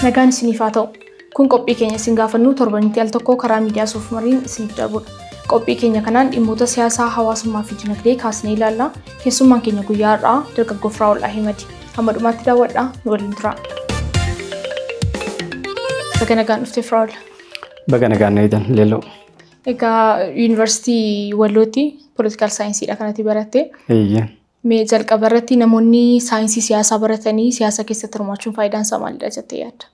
Nagaan isiniif haa ta'u. Kun qophii keenya isin gaafannuu torbanitti al tokkoo karaa miidiyaa suuf mariin isiniif darbudha. Qophii keenya kanaan dhimmoota siyaasaa, hawaasummaa fi dinagdee kaasnee ilaalla. Keessummaan keenya guyyaa har'aa dargaggoo Firaa'ol Ahimadi. Hamma dhumaatti daawwadhaa nu waliin turaa. Baga nagaan dhufte Firaa'ol. Baga nagaan na eedan leelloo. Egaa yuunivarsiitii Wallootti poolitikaal saayinsiidha kanatti baratte. Eeyyee. Mee jalqaba irratti namoonni saayinsii siyaasaa baratanii siyaasa keessatti hirmaachuun faayidaan isaa maalidha jettee yaadda?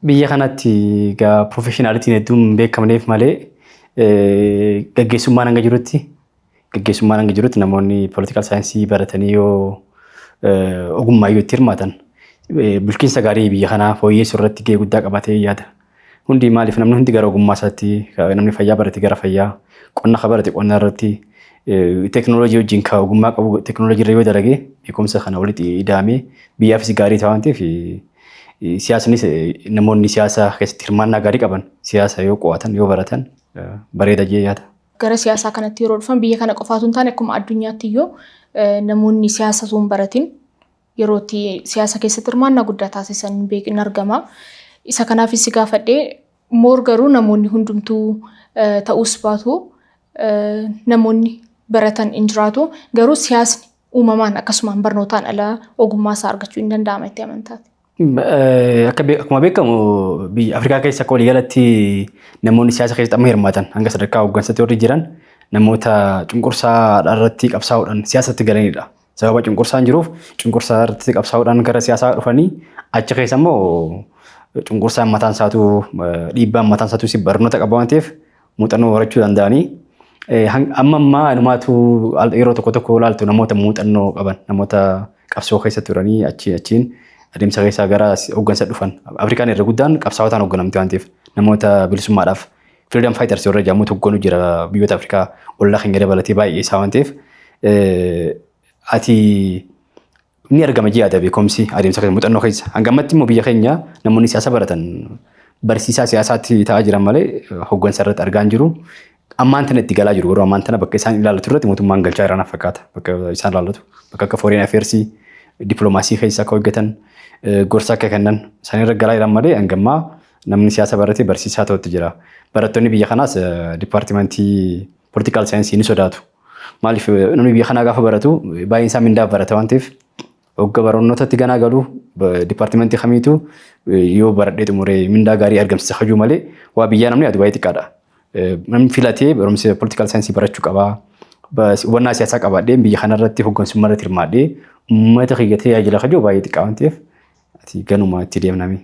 Biyya kanatti egaa piroofeshinaalitiin hedduun hin beekamneef malee eh, gaggeessummaan hanga jirutti Gaggeessummaan hanga jirutti namoonni political saayinsii baratanii yoo ogummaa yoo itti hirmaatan bulchiinsa gaarii biyya kanaa fooyyeessuu irratti gahee guddaa qabatee yaada. Hundi maaliif namni hundi gara ogummaa isaatti namni fayyaa barate gara fayyaa qonna ka barate qonna irratti teekinooloojii wajjin ka ogummaa qabu teekinooloojii irra yoo dalage beekumsa kana walitti ida'amee biyyaafis gaarii ta'a waan ta'eef siyaasnis namoonni siyaasa keessatti hirmaannaa gaarii qaban siyaasa yoo qo'atan yoo baratan bareeda jee yaada. Gara siyaasaa kanatti yeroo dhufan biyya kana qofaatu hin taane akkuma addunyaatti iyyuu namoonni siyaasa osoo hin baratin yeroo itti siyaasa keessatti hirmaannaa guddaa taasisan hin beekin argama. Isa kanaafis si gaafadhe moor garuu namoonni hundumtuu ta'uus baatu namoonni baratan hin jiraatu garuu siyaasni uumamaan akkasumaan barnootaan ala ogummaa isaa argachuu hin danda'ama itti amantaati. Akka be- akkuma beekamu biyya Afrikaa keessa akka waliigalatti namoonni siyaasa keessatti amma hirmaatan hanga sadarkaa hooggansatti warri jiran namoota cunqursaa irratti qabsaa'uudhaan siyaasatti galanidha. Sababa cunqursaan jiruuf cunqursaa irratti qabsaa'uudhaan gara siyaasaa dhufanii achi keessa immoo cunqursaan mataan isaatu eh, dhiibbaan mataan isaatu si barnoota qaba waan ta'eef muuxannoo horachuu danda'anii amma ammaa inumaatu yeroo tokko tokko ilaaltu namoota muuxannoo qaban namoota qabsoo keessa turanii achiin achiin adeemsa keessaa gara hooggansa dhufan Afrikaan irra guddaan qabsaawotaan hoogganamti waan ta'eef namoota bilisummaadhaaf freedom fighters warra jedhamutu hogganu jira biyyoota Afrikaa ollaa keenya dabalatee baay'ee isaa waan ta'eef ati Ni argama ji'a adabe komsi adeemsa keessa muuxannoo keessa. Hanga ammatti immoo biyya keenya namoonni siyaasa baratan barsiisaa siyaasaatti ta'aa jiran malee hoggansa irratti argaa hin jiru. Ammaan tana itti galaa jiru garuu ammaan tana bakka isaan ilaallatu irratti mootummaan galchaa irraa fakkaata. Bakka isaan ilaallatu bakka akka foreign affairs dippiloomaasii keessa akka hojjetan gorsa akka kennan isaan irra galaa jiran malee hanga ammaa namni siyaasa barate barsiisaa ta'utti jira. Barattoonni biyya kanaas dipaartimentii political science ni sodaatu. Maaliif namni biyya kanaa gaafa baratu baay'een isaa mindaaf barata waan ta'eef hogga barnootatti ganaa galu dipaartimentii kamiitu yoo baradhee xumuree mindaa gaarii argamsiisa hajuu malee waa biyyaa namni yaadu baay'ee xiqqaadha. Namni filatee barumsa political science barachuu qabaa. Hubannaa siyaasaa qabaadhee biyya kanarratti hoggansummaa irratti hirmaadhee uummata kiyya tajaajila hajuu baay'ee xiqqaa waan ta'eef Ati ganuma itti deemnami.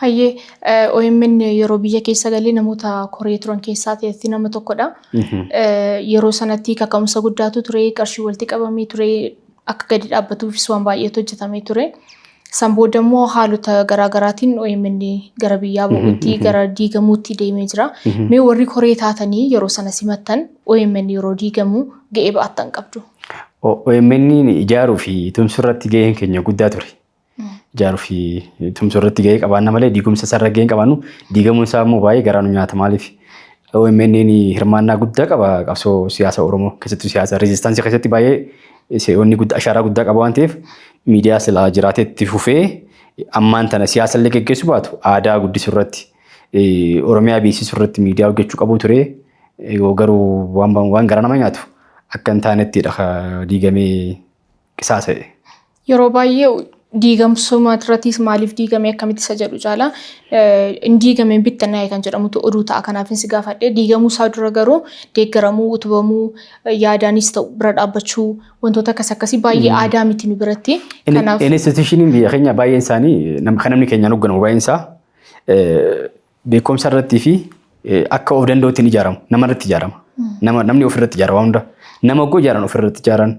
Hayyee eh, OMN yeroo biyya keessa galee namoota koree turan keessaa ta'etti nama tokkodha. Eh, Yeroo sanatti kaka'umsa guddaatu ture, qarshii walitti qabamee ture, akka gadi dhaabbatuufis waan baay'eetu hojjetamee ture. San booda immoo haalota garaa garaatiin OMN gara biyyaa ba'uutti, gara diigamuutti deemee jira. Mee warri koree taatanii yeroo sana simattan OMN yeroo diigamu ga'ee ba'attan qabdu. O- OMN ijaaruu fi tumsuu irratti gaheen keenya guddaa ture. ijaaruu fi tumsuu irratti gahee qabaanna malee diigumsa isaa irra gahee hin qabaannu. Diigamuun isaa immoo baay'ee garaa nu nyaata maaliif? OMN hirmaannaa guddaa qaba qabsoo siyaasa Oromoo keessattuu siyaasa reezistaansii keessatti baay'ee se'oonni guddaa ashaaraa guddaa qaba waan ta'eef miidiyaa silaa jiraatee itti fufee ammaan tana siyaasa illee geggeessuu baatu aadaa guddisuu irratti Oromiyaa beeksisuu irratti miidiyaa hojjechuu qabu ture garuu waan garaa nama nyaatu akka hin taanettidha diigamee qisaasa'e. Yeroo baay'ee diigamsuma irrattis maaliif diigame akkamitti isa jedhu caala hin diigameen bittanaa'e kan jedhamutu oduu ta'a. Kanaaf si gaafadhe diigamuu isaa dura garuu deeggaramuu, utubamuu, yaadaanis ta'u bira dhaabbachuu wantoota akkas akkasii baay'ee aadaa miti nu biratti. Kanaaf Institushiniin biyya keenya baay'een isaanii kan namni keenyaan hoogganamu baay'een isaa Beekumsa irratti fi akka of danda'utti hin ijaaramu. Nama irratti ijaarama. Nama, namni of irratti ijaara waan hunda. Nama oggoo ijaaran of irratti ijaaran.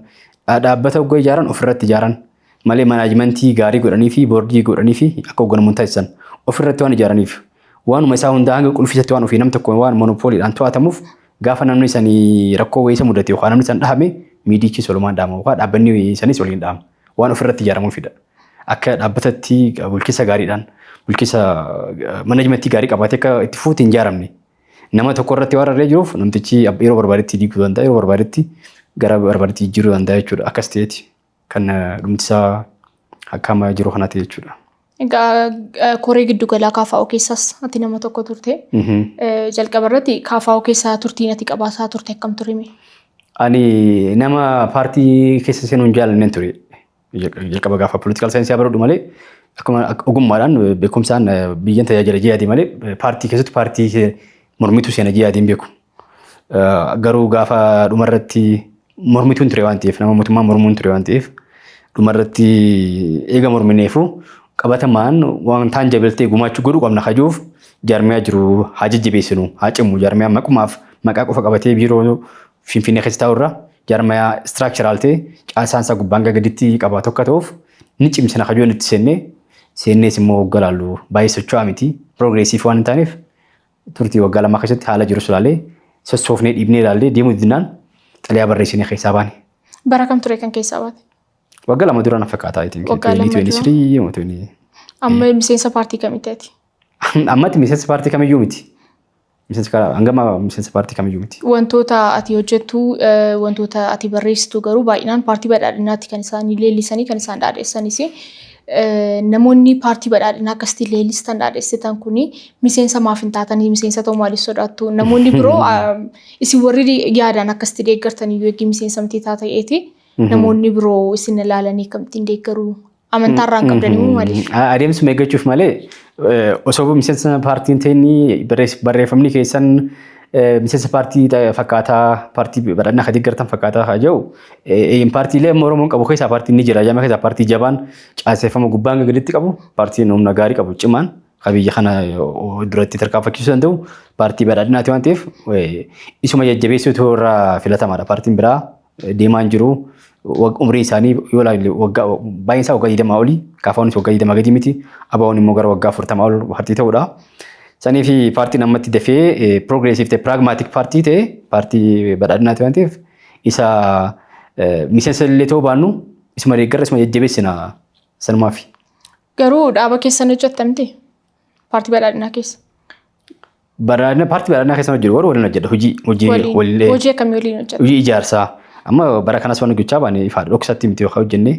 dha- Dhaabbata oggoo ijaaran of irratti ijaaran. Malee manaajimentii gaarii godhanii fi boordii godhanii fi akka hoogganamu hin taasisan. Of irratti waan ijaaraniif. Waanuma isaa hundaa hanga qulfiisatti waan ofii nam tokko waan monopooliidhaan to'atamuuf gaafa namni sanii rakkoo wayii isa mudate yookaan namni san dhahame miidichi solumaan dhahama yookaan dhaabbanni sanis waliin dhahama. Waan of irratti ijaaramuufidha. Akka dhaabbatatti bulchiinsa gaariidhaan bulchiinsa manajimentii gaarii qabaatee akka itti fuuti hin jaaramne. Nama tokko irratti waan rarree jiruuf namtichi yeroo barbaadetti diiguu danda'a yeroo barbaadetti gara barbaadetti jijjiiruu danda'a jechuudha. Akkas ta'eeti kan dhumtisaa akka amma jiru kanaa ta'e jechuudha. Egaa koree giddugalaa kaafaa'oo keessaas ati nama tokko turte. Jalqaba irratti kaafaa'oo keessaa turtiin ati qabaasaa turte akkam turime? Ani nama paartii keessa seenuu hin jaalanneen ture. Jalqaba gaafa political saayinsii baradhu malee akkuma akka ogummaadhaan beekumsaan eh, biyyan tajaajila jihaadii malee eh, paartii keessatti paartii eh, mormituu seena jihaadiin beeku. Eh, Garuu gaafa dhumarratti mormituun ture waan ta'eef nama mootummaa mormuun ture waan ta'eef dhumarratti eega mormineefu qabatamaan waan taan jabeeltee gumaachuu godhu qabna kajuuf jaarmiyaa jiru haa jajjabeessinu haa cimnu jaarmiyaa maqumaaf maqaa qofa qabatee biiroo Finfinnee keessa taa'u irra jaarmayaa istiraakcharaal ta'e caasaan isaa gubbaan hanga gaditti qabaa tokko ta'uuf ni cimsina kajoon itti seennee seennees immoo waggaa laallu baay'ee socho'aa miti piroogreesiif waan hin taaneef turtii waggaa lamaa keessatti haala jirus ilaalee sossoofnee dhiibnee ilaallee deemuu didnaan xalayaa barreessinee keessaa baane. Bara kam ture kan keessaa baate? Waggaa lama dura na fakkaata. Waggaa lama dura. Amma miseensa paartii kamitti ati? Ammatti miseensa paartii kamiyyuu miti. Miseensi karaa hangama miseensa paartii kamiyyuu miti. Wantoota ati hojjettu, eh, wantoota ati barreessitu garuu baay'inaan paartii badhaadhinaatti kan isaan leellisanii kan isaan dhaadheessanis. Eh, Namoonni paartii badhaadhinaa akkasitti leellistan dhaadheessitan kun miseensa maaf hin taatanii miseensa ta'uu maaliif sodaattu? Namoonni biroo ah, isin warri yaadaan akkasitti deeggartan iyyuu eegii miseensa miti taata ta'eeti. Namoonni biroo isin ilaalanii akkamittiin deeggaruu Amantaa irraa hin qabdan immoo maaliif? Adeemsuma eeggachuuf malee osoo miseensa paartiin ta'inni barreeffamni keessan miseensa paartii fakkaataa paartii badhannaa kan deeggartan fakkaataa haa jiru. Paartiilee amma Oromoon qabu keessaa paartiin ni jira. Jama keessaa paartii jabaan caaseffama gubbaa hanga gaditti qabu paartiin humna gaarii qabu cimaan kan biyya kana duratti tarkaanfachiisuu danda'u paartii badhaadhinaati waan ta'eef isuma jajjabeessuutu irraa filatamaadha. Paartiin biraa deemaan jiru. Umriin isaanii yoo ilaalle baay'een isaa waggaa 20 olii, kaafawwanis waggaa 20 gadi miti, abaawwan immoo gara waggaa 40 ol paartii ta'udha. Sanii fi paartiin ammatti dafee piroogreesiif ta'e piraagmaatik paartii ta'e paartii badhaadhinaati waan ta'eef isa miseensa illee ta'uu baannu isuma deeggarra isuma jajjabeessina sanumaafi. Garuu dhaaba keessan hojjettamti paartii badhaadhinaa keessa. Baraana paartii baraanaa keessa hojjetu warra waliin hojjedha hojii hojii Waliin. waliin Hojii akkamii waliin hojjeta? hojii ijaarsaa amma bara kanas waan hojjechaa baane ifaadha dhoksatti miti yookaan hojjenne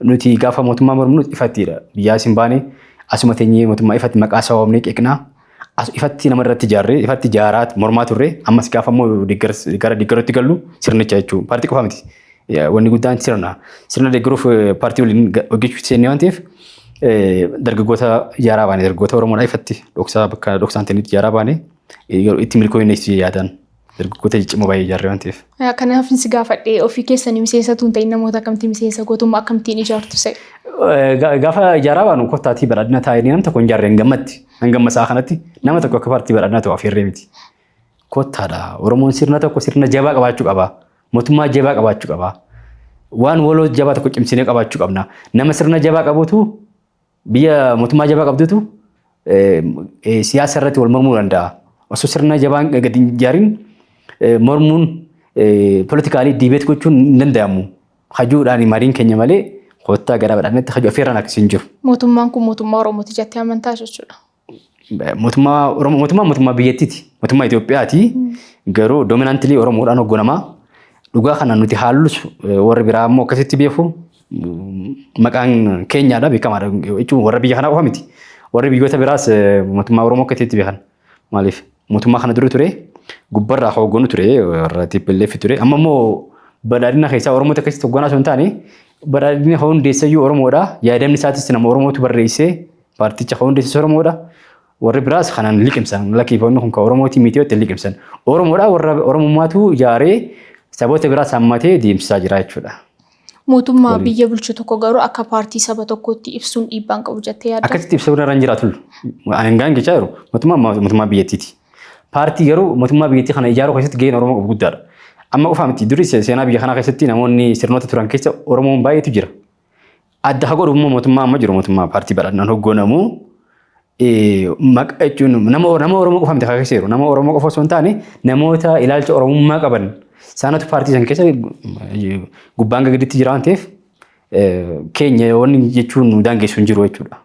nuti gaafa mootummaa morminu ifattiidha biyyaa isin baane asuma teenyee mootummaa ifatti maqaa isaa waamnee qeeqnaa as ifatti nama irratti ijaarree ifatti ijaaraa mormaa turre ammas gaafa immoo deeggarsa- gara deeggaruutti gallu sirnicha jechuudha paartii qofa miti. Wanni guddaan sirna. Sirna deeggaruuf paartii waliin hojjechuutti seennee waan ta'eef dargaggoota ijaaraa baane dargaggoota Oromoodhaa ifatti dhoksaa bakka dhoksaan ta'initti ijaaraa baane itti milkooyinne si yaadaan dargaggoota ciccimoo baay'ee ijaarree waan ta'eef. Kanaaf si gaafadhe ofii keessanii miseensa tuun ta'in namoota akkamtii miseensa gootummaa akkamtiin ijaartu se'e. Gaafa ijaaraa baanu kottaatii badhaadhina taa'inii nam tokko hin ijaarre hin gammatti. Hin gamma isaa kanatti nama tokko akka paartii badhaadhina ta'u afeerree miti. Kottaadha. Oromoon sirna tokko sirna jabaa qabaachuu qaba. Mootummaa jabaa qabaachuu qaba. Waan waloo jabaa tokko cimsinee qabaachuu qabna. Nama sirna jabaa qabutu biyya mootummaa jabaa qabdutu siyaasa irratti wal mormuu danda'a. Osoo sirna jabaan gadi hin ijaarin mormuun politikaalii diibeet gochuun hin danda'amu. Hajuudhaan mariin keenya malee koottaa garaa badhaadhinatti hajuu affeerraan akkasii hin jiru. Mootummaan kun mootummaa Oromooti jettee amantaa jechuudha. Mootummaa Oromoo mootummaa mootummaa biyyattiiti. Mootummaa Itoophiyaati. Garuu dominaantilii Oromoodhaan hogganamaa. Dhugaa kana nuti haallus eh, warri biraa immoo akkasitti beeku. Mm, Maqaan keenyaadha beekamaadha jechuun warra biyya kanaa qofa miti. Warri biyyoota biraas eh, mootummaa Oromoo akkasitti beekan. Maaliif mootummaa kana dura ture gubbarraa akka hogganu ture warra TPLF ture. Amma immoo badhaadhina keessaa Oromoota akkasitti hogganaa osoo hin taane badhaadhina hundeessayyuu Oromoodha. Yaadamni isaatis nama Oromootu barreessee Paarticha kan hundeessis Oromoodha. Warri biraas kanan liqimsan lakkiifoonni kun kan Oromootiin miti itti liqimsan. Oromoodha warra Oromummaatu ijaaree saboota biraas hammatee deemsisaa jira jechuudha. Mootummaa Waliin. biyya bulchu tokko garuu akka paartii saba tokkootti ibsuun dhiibbaan qabu jettee yaadda. Akkasitti ibsa irra hin jiraatu. Hangaan jechaa jiru mootummaa mootummaa biyyattiiti. Paartii garuu mootummaa biyyattii kana ijaaruu keessatti gaheen Oromoo qabu guddaadha. Amma qofaa miti durii se- seenaa biyya kanaa keessatti namoonni sirnoota turan keessa Oromoon baay'eetu jira. Adda haa godhu immoo mootummaa amma jiru mootummaa paartii badhannaan hoggoonamu maqaa jechuun nama nama Oromoo qofa miti kaasee jiru nama Oromoo qofa osoo hin taane namoota ilaalcha Oromummaa qaban isaanatu paartii san keessa gubbaan gaditti jira waan ta'eef keenya wanni jechuun nu daangessu hin jiru jechuudha.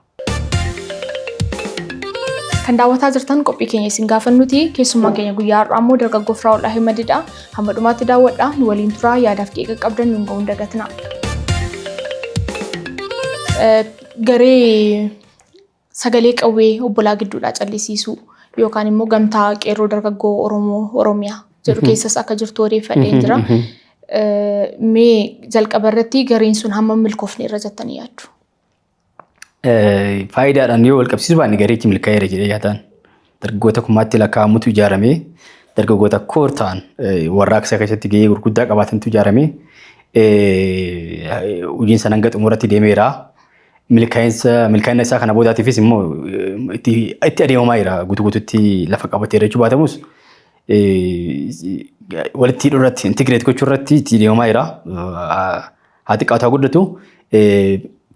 Kan daawwataa jirtan qophii keenya isin gaafannuti. Keessummaan keenya guyyaa har'aa immoo dargaggoo Firaa'ol Ahimadiidha. Hamma dhumaatti daawwadhaa nu waliin turaa yaadaaf qeeqa qabdan nuun ga'uun dagatina. Garee sagalee qawwee obbolaa gidduudhaa callisiisuu yookaan immoo gamtaa qeerroo dargaggoo Oromoo Oromiyaa jedhu keessas akka jirtu odeeffadheen jira. Mee jalqaba irratti gareen sun hammam milkoofne irra jettanii yaaddu? faayidaadhaan yoo wal qabsiisu baanne gareechi milkaa'eera jedhee yaadaan dargaggoota kumaatti lakkaa'amutu ijaaramee dargaggoota koor ta'an warraaqsa keessatti gahee gurguddaa qabaatantu ijaaramee hojiin sana hanga xumuratti deemeera. Milkaa'insa milkaa'ina isaa kana boodaatiifis immoo itti itti adeemamaa jira guutuu guutuutti lafa qabatee jechuu baatamus walitti hidhuu irratti intigireet gochuu irratti itti adeemamaa jira. Haa xiqqaatu haa guddatu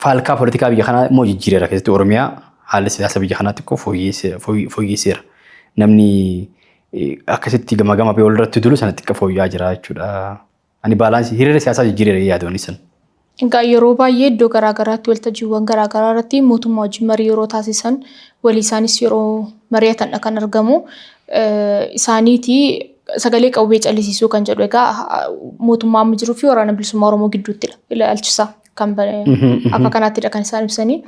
faalkaa politikaa biyya kanaa immoo jijjiireera keessatti Oromiyaa haalli siyaasa biyya kanaa xiqqoo fooyyeesseera. Namni akkasitti gama gama biyya walirratti dulu sana xiqqoo fooyya'aa jira jechuudha. Ani baalaansii hiriira siyaasaa jijjiireera yaadonni sana. Egaa yeroo baay'ee iddoo garaagaraatti waltajjiiwwan garaagaraa irratti mootummaa wajjin marii yeroo taasisan walii isaanis yeroo mari'atandha kan argamu. Isaaniiti sagalee qawwee callisiisuu kan jedhu egaa mootummaa amma jiruu fi waraana bilisummaa Oromoo gidduuttidha ilaalchisa kan akka kanaattidha kan isaan ibsanii.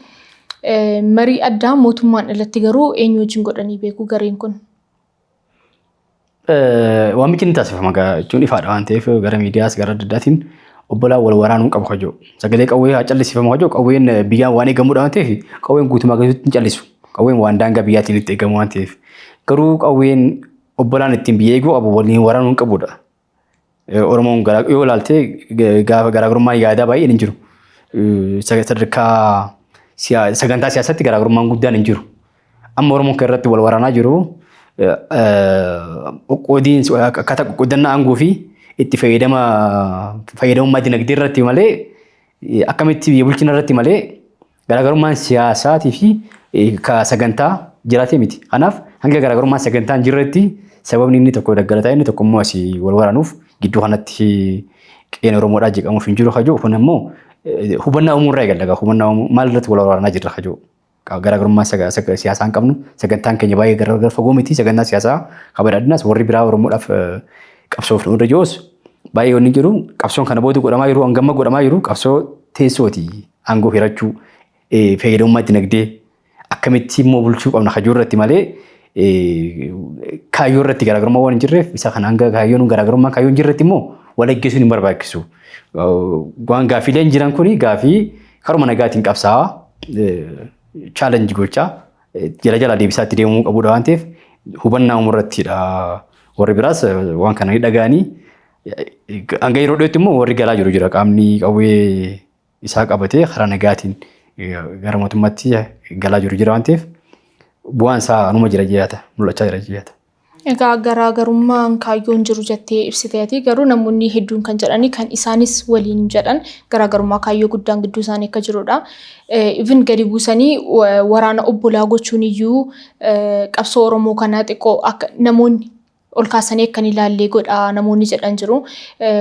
Marii addaa mootummaan alatti garuu eenyu wajjin godhanii beeku gareen kun. Waamichi ni taasifama jechuun ifaadha waan ta'eef gara miidiyaas gara adda addaatiin obbolaan wal waraanuu qabu kajoo. Sagalee qawwee haa callisiifamu kajoo qawween biyyaan waan eegamudha waan ta'eef qawween guutumaa keessatti hin callisu. Qawween waan daangaa biyyaatiin itti eegamu waan ta'eef. Garuu qawween Obbolaan ittiin biyya eeguu qabu waliin waraanuu hin qabudha. Oromoon yoo ilaalte gaafa garaagarummaa yaadaa baay'een hin jiru. Sadarkaa sagantaa siyaasatti garaagarummaan guddaan hin jiru. Amma Oromoon kan irratti wal waraanaa jiru qoqqoodiin akkaataa qoqqoodannaa aangoo fi itti fayyadama fayyadamummaa dinagdee irratti malee akkamitti biyya bulchina irratti malee Garaagarummaan siyaasaatii fi ka sagantaa jiraatee miti. Kanaaf hanga garaagarummaan sagantaa hin jirretti sababni inni tokko daggalataa inni tokko immoo asii wal waraanuuf gidduu kanatti qeen Oromoodhaa jeeqamuuf hin jiru kajoo kun ammoo hubannaa uumuu irraa eegalla. Hubannaa uumuu maal irratti wal waraanaa jirra kajoo. Garaagarummaa siyaasaa hin qabnu sagantaan keenya baay'ee gargar fagoo miti sagantaa siyaasaa kabadhaadhinaas warri biraa Oromoodhaaf qabsoof nu irra jiruus baay'ee wanni jiru qabsoon kana booda godhamaa jiru hangama godhamaa jiru qabsoo teessooti. aangoo hirachuu, fayyadamummaa dinagdee akkamitti immoo bulchuu qabna kajuu irratti malee kaayyoo irratti garaagarummaa waan hin jirreef isa kan hanga kaayyoon garaagarummaa kaayyoo hin jirretti immoo wal ajjeesuun hin barbaachisu. Waan gaaffiileen jiran kun gaaffii karuma nagaatiin qabsaa'aa chaalenji gochaa jala jala deebisaatti deemuu qabudha waan ta'eef hubannaa uumuu irrattidha. Warri biraas waan kana dhaga'anii hanga yeroo dhiyootti immoo warri galaa jiru jira qaamni qawwee isaa qabatee karaa nagaatiin gara mootummaatti galaa jiru jira waan ta'eef bu'aan isaa anuma jira jechaadha mul'achaa jira jechaadha. Egaa garaagarummaan kaayyoon jiru jettee ibsite ati garuu namoonni hedduun kan jedhani kan isaanis waliin jedhan garaagarummaa kaayyoo guddaan gidduu isaanii akka jirudha. Even gadi buusanii waraana obbolaa gochuun iyyuu qabsoo Oromoo kana xiqqoo akka namoonni ol kaasanii akka hin ilaallee godha namoonni jedhan jiru.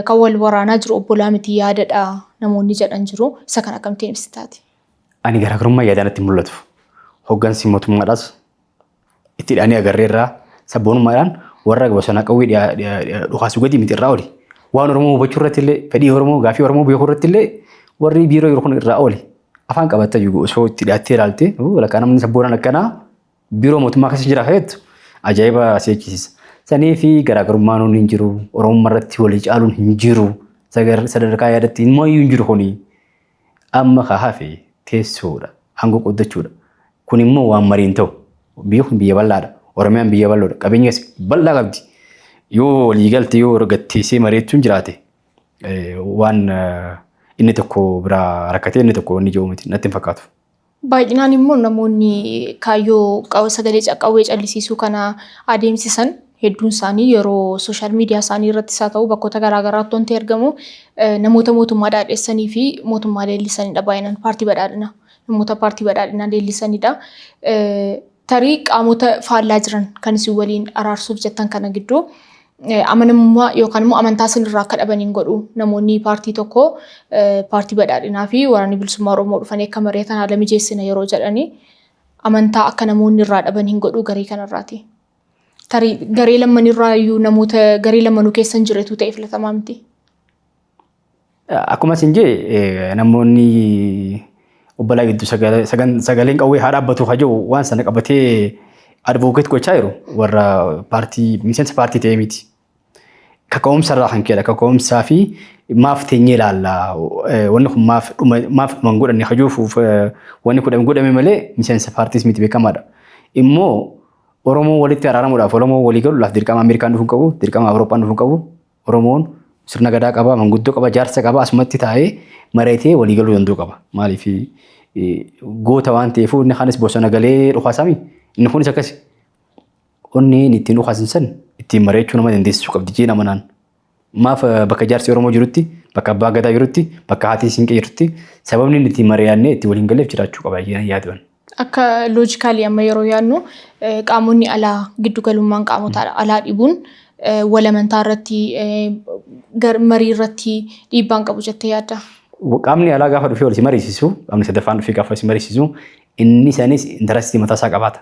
Kan wal waraanaa jiru obbolaa miti yaadadha namoonni jedhan jiru. Isa kan akkamittiin ibsitaati? Ani garaagarummaa yaadaa natti mul'atu. Hoggansi mootummaadhaas itti hidhaanii agarreerraa sabboonummaadhaan warra bosonaa qawwee dhukaasuu gadi miti irraa oli. Waan Oromoo hubachuu irratti illee fedhii Oromoo gaafii Oromoo beekuu irratti illee warri biiroo yeroo kun irraa oli. Afaan qabattee osoo itti dhiyaattee ilaalte lakkaa namni sabboonaan akkanaa Biiroo mootummaa keessa jira feetu ajaa'iba si jechisiisa. Sanii fi garaagarummaan hundi hin jiru. Oromummaa irratti walii caaluun hin jiru. Sagar- Sadarkaa yaadatti immoo iyyuu hin jiru kuni. Amma ka hafe teessoodha. Aangoo qooddachuudha. Kun immoo waan marii hin ta'u. Biyyi kun biyya bal'aadha. Oromiyaan biyya bal'oodha. Qabeenya as bal'aa qabdi. Yoo walii galte yoo gatteessee mari'achuun jiraate eh, waan eh, inni tokko biraa rakkatee inni tokko inni jiru miti natti hin fakkaatu. Baay'inaan immoo namoonni kaayyoo qaw- sagalee ca- qawwee callisiisuu kana adeemsisan hedduun isaanii yeroo sooshaal miidiyaa isaanii irrattis haa ta'u bakkoota garaa garaatti wanti argamu eh, namoota mootummaa dhaadhessanii fi mootummaa leellisanidha baay'inaan paartii badhaadhinaa namoota paartii badhaadhinaa leellisanidha. Eh, Tarii qaamota faallaa jiran kan isin waliin araarsuuf jettan kana gidduu amanamummaa yookaan immoo amantaa isinirraa akka dhaban hin godhu. Namoonni paartii tokko paartii badhaadhinaa fi waraanni bilisummaa Oromoo dhufanii akka mari'atan haala mijeessina yeroo jedhanii amantaa akka namoonni irraa dhaban hin godhu garee kanarraati. Tarii garee lammanirraa iyyuu namoota garee lammanuu keessa hin jiretu ta'e filatamaa miti. Akkuma isin jee namoonni obbolaa gidduu sagaleen qawwee haa dhaabbatu haa jiru waan sana qabatee advocate gochaa jiru warra paartii miseensa paartii ta'ee miti. Kaka'umsa irraa kan ka'edha. Kaka'umsaa fi maaf teenyee ilaalla. Wanni kun maaf dhuma maaf dhuma hin godhanne haa jiruuf wanni kun godhame malee miseensa paartiis miti beekamaadha. Immoo Oromoo walitti araaramuudhaaf Oromoo walii galuudhaaf dirqama Ameerikaan dhufuu hin qabu, dirqama Awurooppaan dhufuu hin qabu, Oromoon sirna gadaa qaba, manguddoo qaba, jaarsa qaba, asumatti taa'ee mareetee walii galuu danda'u qaba. Maaliif goota waan ta'eef inni kaanis bosona galee dhukaasami. Inni kunis akkasi. Onneen ittiin dhukaasan san ittiin mareechuu nama dandeessisuu qabdi jee nama naan. Maaf bakka jaarsi Oromoo jirutti, bakka abbaa gadaa jirutti, bakka haatii siinqee jirutti sababni inni ittiin mari'annee itti waliin galeef jiraachuu qaba jee yaadwan. Akka loojikaalii amma yeroo yaadnu qaamonni alaa giddugalummaan qaamota alaa dhibuun walamantaa irratti marii irratti dhiibbaan qabu jettee yaadda? Qaamni alaa gaafa dhufee wal si mariisisu, qaamni sadaffaan dhufee gaafa si mariisisu, inni sanis intarastii mataa isaa qabaata.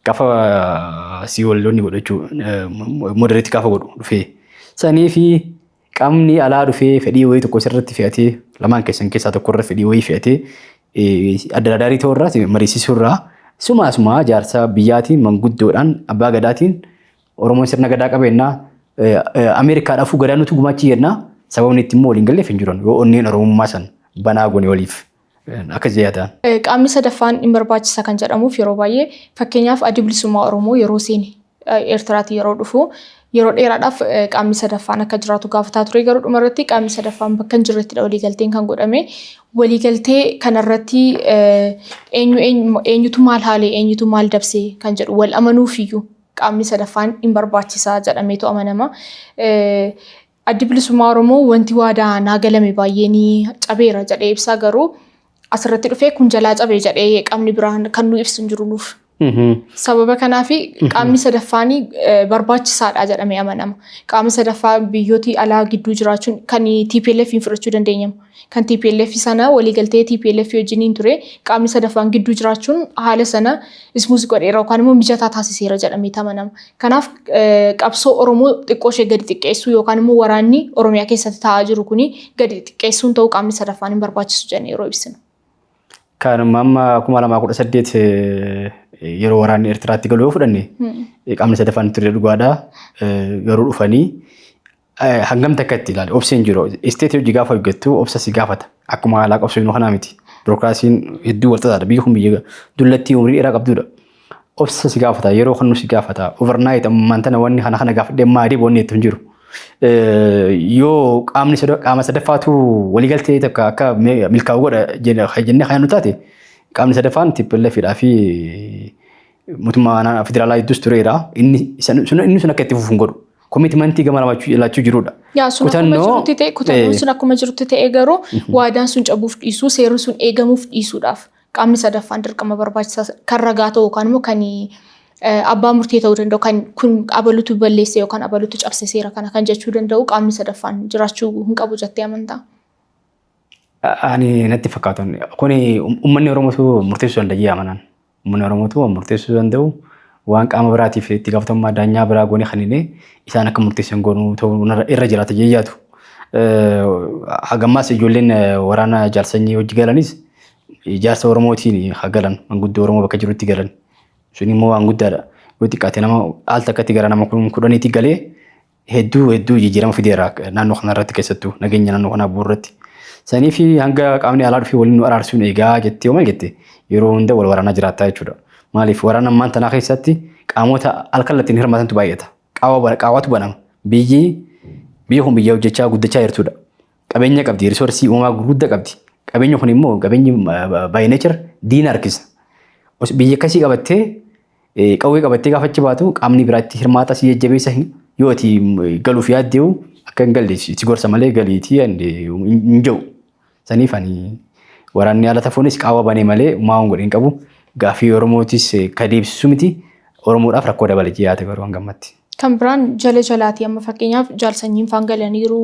Gafa si wallonni godhachuu moderate gaafa godhu dhufee sanii fi qamni alaa dhufee fedhii wayii tokko sirratti fe'atee lamaan keessan keessaa tokko irra fedhii wayii fe'atee addaradaarii ta'uu irraa mariisisuu irraa sumaa sumaa jaarsa biyyaatiin manguddoodhaan abbaa gadaatiin Oromoon sirna gadaa qabeenyaa Ameerikaa dhafuu gadaa nutu gumaachii jennaa sababni itti immoo waliin galleef hin jiran yoo onneen Oromummaa san banaa goone waliif akka ziyadaan. Qaamni sadaffaan hin barbaachisa kan jedhamuuf yeroo baay'ee fakkeenyaaf addi bilisummaa Oromoo yeroo seene Eertiraatii yeroo dhufu yeroo dheeraadhaaf qaamni sadaffaan akka jiraatu gaafataa ture garuu dhuma irratti qaamni sadaffaan bakka hin jirrettidha waliigalteen kan godhame. Waliigaltee kanarratti eenyu eenyutu maal haalee eenyutu maal dabsee kan jedhu wal amanuufiyyuu qaamni sadaffaan hin barbaachisaa jedhameetu amanama. Addi Bilisummaa Oromoo wanti waadaa naa galame baay'ee ni cabeera jedhee ibsaa garuu asirratti dhufee kun jalaa cabe jedhee qaamni biraan kan nu ibsu hin jiru nuuf. Sababa kanaaf qaamni sadaffaan barbaachisaadha jedhamee amanama. Qaama sadaffaa biyyooti alaa gidduu jiraachuun kan TPLF hin fudhachuu dandeenyamu. Kan tplf sana waliigaltee tplf wajjiniin ture qaamni sadaffaan gidduu jiraachuun haala sana smooth godheera yookaan immoo mijataa taasiseera jedhameeti amanama. Kanaaf qabsoo Oromoo xiqqoo ishee gadi xiqqeessuu yookaan immoo waraanni Oromiyaa keessatti taa'aa jiru kuni gadi xiqqeessuun ta'uu qaamni sadaffaan hin barbaachisu jennee yeroo ibsinu. Kan amma 2018 yeroo waraanni Eertiraatti galu yoo fudhanne qaamni sadaffaan hin turre dhugaadha. Garuu dhufanii Hangam takka itti ilaali obsi hin jiru. Isteetii hojii gaafa hojjettu obsa si gaafata. Akkuma haalaa qabsiifnu kanaa miti. Birookiraasiin hedduu wal xaxaadha. Biyyi kun biyya dullattii umrii dheeraa qabdudha. Obsa si gaafata. Yeroo kan nu si gaafata. Overnight ammaan tana wanni kana kana gaafadhee maa deebi wanni jettu hin jiru. Yoo qaamni qaama sadaffaatu waliigaltee takka akka milkaa'u godha jennee kan nu taate qaamni sadaffaan tippilleefidhaa fi mootummaa naannoo federaalaa hedduus tureera. Inni isa- sun inni sun akka itti fufu hin godhu. Komitmentii gama lamaachuu ilaachuu jirudha. Yaa sun akkuma Kutannoo- jirutti ta'e kutannoon eh, sun akkuma jirutti ta'e garuu waadaan sun cabuuf dhiisuu seerri sun eegamuuf dhiisuudhaaf qaamni sadaffaan dirqama barbaachisaa kan ragaa ta'u yookaan immoo kan eh, abbaa murtee ta'uu danda'u kan kun abalutu balleesse yookaan abalutu cabse seera kana kan jechuu danda'u qaamni sadaffaan jiraachuu hin qabu jettee amantaa. Ani natti fakkaatan. Kuni um- uummanni Oromoo murteessuu danda'a amanaan. Uummanni Oromootu waan murteessuu danda'u waan qaama biraatiif itti gaafatamummaa daanyaa biraa goonee kaninee isaan akka murteessan goonuu ta'uu irra jiraata jee yaadu. Hagammaas ijoolleen waraana jaarsanyii hojii galanis ijaarsa Oromootiin haa galan manguddoo Oromoo bakka jirutti galan sun immoo waan guddaadha. Yoo xiqqaate nama al takkatti gara nama kudhaniitti galee hedduu hedduu jijjiirama fideera naannoo kanarratti keessattuu nageenya naannoo kanaa bu'uurratti. Sanii fi hanga qaamni alaa dhufee waliin nu araarsuun eegaa jettee maal jette yeroo hunda wal waraanaa jiraattaa jechuudha. Maaliif waraana ammaan tanaa keessatti qaamota alkallattiin hirmaatantu baay'ata. Qaawwatu banama. Biyyi biyya kun biyya hojjechaa guddachaa jirtudha. Qabeenya qabdi, risoorsii uumamaa gurguddaa qabdi. Qabeenya kun immoo qabeenyi by nature diina harkisa. Biyya akkasii qabattee Qawwee qabattee gaafa achi baatu qaamni biraa itti hirmaata si jajjabeessa yoo ati galuuf yaaddeewu akka hin galle si gorsa malee galiitii hin jedhu. Saniif ani waraanni haala tafuunis qaawwa banee malee maa waan godhe hin qabu. Gaaffii Oromootis ka deebisisu miti. Oromoodhaaf rakkoo dabale yaada garuu hangammatti. Kan biraan jala jalaati amma fakkeenyaaf jaalsanyiin faan galaniiru,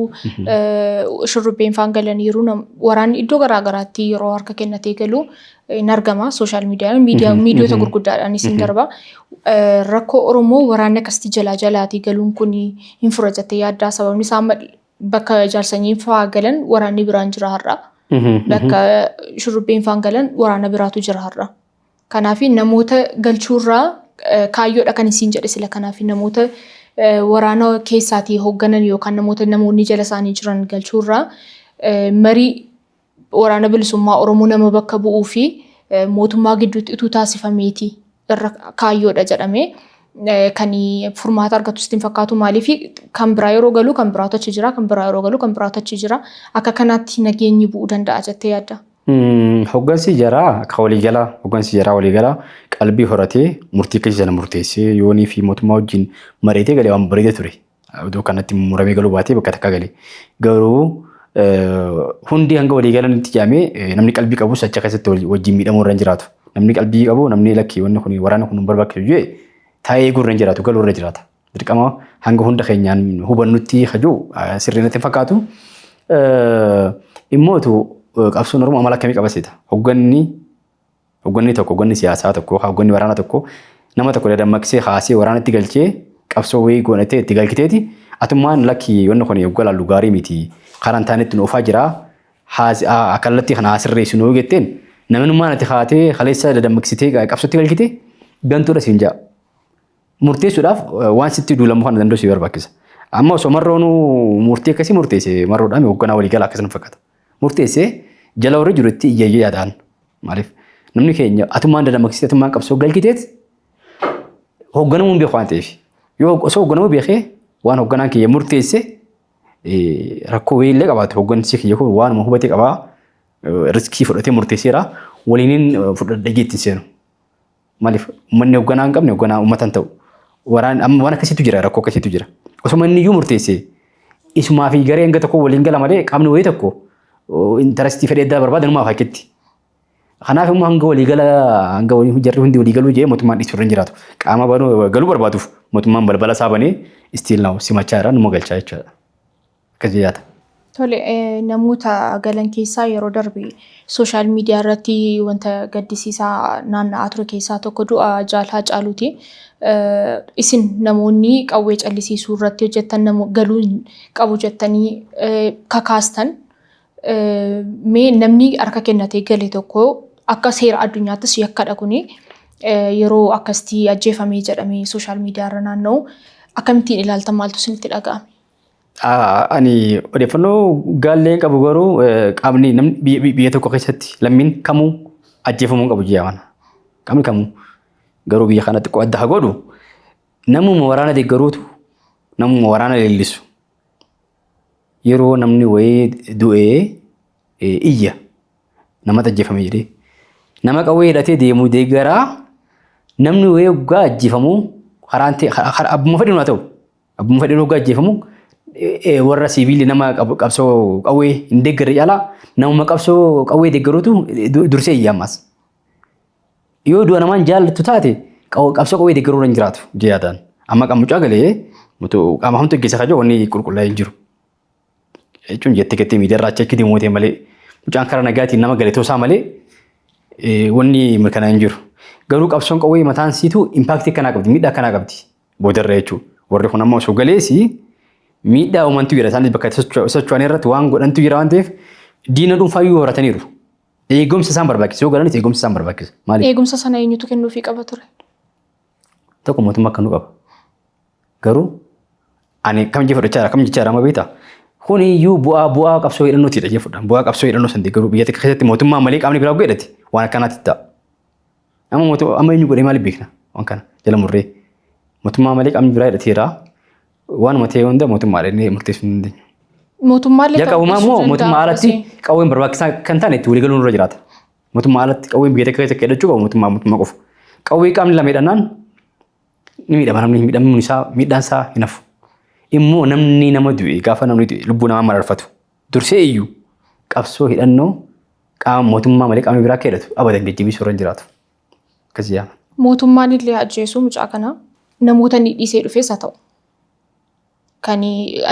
shurrubbeen faan galaniiru, waraanni iddoo garaa garaatti yeroo harka kennatee galu hin argama sooshaal miidiyaan miidiyaa miidiyoota gurguddaadhaanis hin darba. Rakkoo Oromoo waraanni akkasitti jalaa jalaatii galuun kun hin fura jettee yaaddaa sababni isaa amma bakka jaalsanyiin faa galan waraanni biraan jira har'a. Bakka shurrubbeen faan galan waraana biraatu jira har'a. Kanaaf namoota galchuurraa kaayyoodha kan isiin jedhe sila kanaaf namoota waraana keessaatii hoogganan yookaan namoota namoonni jala isaanii jiran galchuurraa marii waraana bilisummaa Oromoo nama bakka bu'uu fi mootummaa gidduutti utuu taasifameeti irra kaayyoodha jedhamee kan furmaata argatu sitti hin fakkaatu maaliif kan biraa yeroo galuu kan biraatu achi jira kan biraa yeroo galuu kan biraatu achi jira akka kanaatti nageenyi bu'uu danda'a jettee yaadda. Hoggansi jaraa ka waliigalaa hoggansi jaraa waliigalaa qalbii horatee murtii keessa sana murteessee yoonii fi mootummaa wajjin mari'atee galee waan bareeda ture. Odoo kanatti muramee galuu baatee bakka takka galee. Garuu hundi hanga waliigalan itti jaamee namni qalbii qabus achi keessatti wajjin miidhamuu irra hin jiraatu. Namni qalbii qabu namni lakki wanni kun waraana kun hin barbaachisu jee taa'ee eeguu irra hin jiraatu galuu irra jiraata. Dirqama hanga hunda keenyaan hubannutti hajuu sirrii natti hin fakkaatu. Dhimmootu qabsoon Oromoo amala akkamii qaba seeta? Hogganni hogganni tokko hogganni siyaasaa tokko yookaan hogganni waraanaa tokko nama tokko dadammaqsee kaasee waraanatti galchee qabsoo wayii godhatee itti galchiteeti atummaan lakki wanni kun hogga laallu gaarii miti karaan taanetti nu oofaa jira kallattii kana haa sirreessu nu jetteen namnummaan ati kaatee kaleessa dadammaqsitee qabsootti galchite gantuudha siin ja'a. murteessuudhaaf waan sitti duulamu kana danda'u si barbaachisa. Amma osoo marroonuu murtii akkasii murteesse marroodhaan hoogganaa waliigalaa akkasii nu fakkaata. Murteessee jala warri jiru itti iyyayyee yaadaan. Maaliif namni keenya atummaan dadammaksitee atummaan qabsoo galchiteet hoogganamuun beeku waan ta'eef. Yoo osoo hoogganamuu beekee waan hoogganaan kiyya murteesse eh, rakkoo wayii illee qabaatu hooggansi kiyya kun waanuma hubatee qabaa eh, riskii fudhatee murteesseera waliin fudhadhee jeetti hin seenu. Maaliif uummanni hoogganaa hin qabne hoogganaa uummata hin ta'u. Waraan amma waan akkasiitu jira rakkoo akkasiitu jira. Osuma inni iyyuu murteesse isumaa fi garee hanga tokko waliin gala malee qaamni wayii tokko intarastii fedhee addaa barbaada numaaf akkitti. Kanaaf immoo hanga walii gala hanga walii hojjarri hundi walii galuu jee mootummaan dhiisuu irra hin jiraatu. Qaama banuu galuu barbaaduuf mootummaan balbala isaa banee istiil naawu simachaa irraa numa galchaa jechuudha. Akkasi yaada. Tole namoota galan keessaa yeroo darbe sooshaal miidiyaa irratti wanta gaddisiisaa naanna'aa ture keessaa tokko du'a Jaal Haacaaluuti. Isin namoonni qawwee callisiisuu irratti hojjettan galuu hin qabu jettanii kakaastan mee namni harka kennatee gale tokko akka seera addunyaattis yakkadha kuni yeroo akkasitti ajjeefamee jedhamee sooshaal miidiyaa irra naanna'u akkamittiin ilaaltan maaltu isinitti dhaga'ame? Ani odeeffannoo gaallee qabu garuu qaamni namni biyya tokko keessatti lammiin kamuu ajjeefamuu qabu ji'a mana. Qaamni kamuu garuu biyya kana xiqqoo adda haa godhu namuma waraana deeggaruutu namuma waraana leellisu. Yeroo namni wayii du'ee iyya namatti ajjeefame jedhee nama qawwee hidhatee deemu deeggaraa namni wayii oggaa ajjeefamu karaan abbuma fedhiin haa ta'u. Abbuma fedheen hoggaa ajjeefamu warra siiviilii nama qabsoo qawwee hin deeggarre caalaa namuma qabsoo qawwee deeggaruutu dursee iyya ammas. Yoo du'a namaan jaallattu taate qabsoo qawwee deeggaruu irra hin jiraatu jedhee yaadaan. Amma qaama mucaa galee qaama hamtu geggeessaa kan jiru wanni qulqullaa'ee hin jiru. jechuun jettee kettee miidiyaa irraa cheekkitii mootee malee mucaan karaa nagaatiin nama galetoo isaa malee wanni mirkanaa hin jiru. Garuu qabsoon qawwee mataan siitu impaaktii akkanaa qabdi miidhaa akkanaa qabdi boodarra jechuudha. Warri kun amma osoo galeesi miidhaa uumantu jira isaanis bakka socho'an irratti waan godhantu jira waan ta'eef diina dhuunfaa iyyuu horataniiru. Eegumsa isaan barbaachisa yoo galanis eegumsa isaan barbaachisa. Maaliif? Eegumsa sana eenyutu kennuufii qaba ture? Tokko mootummaa akkanuu qaba. Garuu ani kam jee fudhachaa jira kam jechaa jira amma beektaa? Kuni iyyuu bu'aa bu'aa qabsoo hidhannootii dha jee fudhan. Bu'aa qabsoo hidhannoo san deeggaruu biyya takka keessatti mootummaa malee qaamni biraa godhati waan akkanaatti ta'a. Amma mootummaa amma eenyu godhee maaliif beekna waan kana jala murree. Mootummaa malee qaamni biraa hidhateera. Waanuma ta'e hunda mootummaa dha inni murteessuu hin dandeenyu. Mootummaallee Jalqabumaa immoo ta'uu mootummaa danda'a, alatti Hussein. qawween barbaachisaa kan taane itti waliigaluun irra jiraata. Mootummaa alatti qawween biyya takka keessatti hidhachuu qabu mootummaa mootummaa qofa. Qawwee qaamni lama hidhannaan Ni miidhama namni miidhamuun isaa miidhaan isaa hin hafu. Immoo namni nama du'e gaafa namni du'e lubbuu namaa mararfatu. Dursee iyyuu qabsoo hidhannoo qaama mootummaa malee qaamni biraa akka hidhatu abadan jajjabeessuu irra hin jiraatu. Akkasii yaama. Mootummaan illee ajjeesuu mucaa kana namoota inni dhiisee dhufes haa ta'u. kan